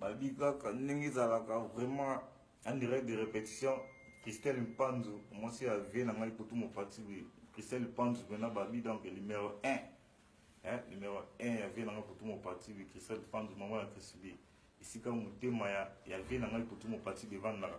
babi kaka ndenge ezalaka vraiment en direct de répétition christelle mpanzu mwasi ya vie na ngai kutu mopati boye christelle mpanzu mpena babi donc numéro 1 eh, numéro 1 ya vie na ngai kutu mopati boye christelle mpanzu mama ya chrisbi esika motema ya, ya vie na ngai kutu mopati boye evandaka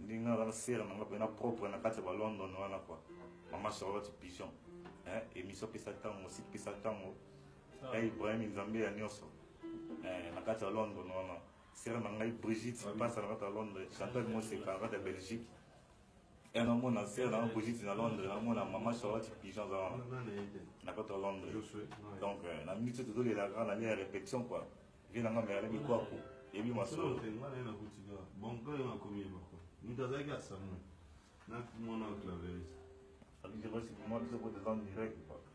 ndinga nga na sere nanga mpe na propre na kati ya ba london wana kua mama charlotte pigeon eh, émission pesa ntango site pesa ntango ya ah. eh, ibrahim nzambe ya nyonso eh, na kati ya london wana sere na ngai brigitte ah pasa na kati ya londres chantal moseka na kati ya belgique e namona sere nanga brigitte na londres namona mama charlotte pigeon aza wana na kati ya londres donc na minute oyo tozolelaka na lia ya répétition quoi vie na nga merle bikwaku ebi masolo te nga na nakuti ka bon ka nga komi ye bako mutu azalaki asamu na mwana claveris abizeko siki mwa biso ko tezan direct bako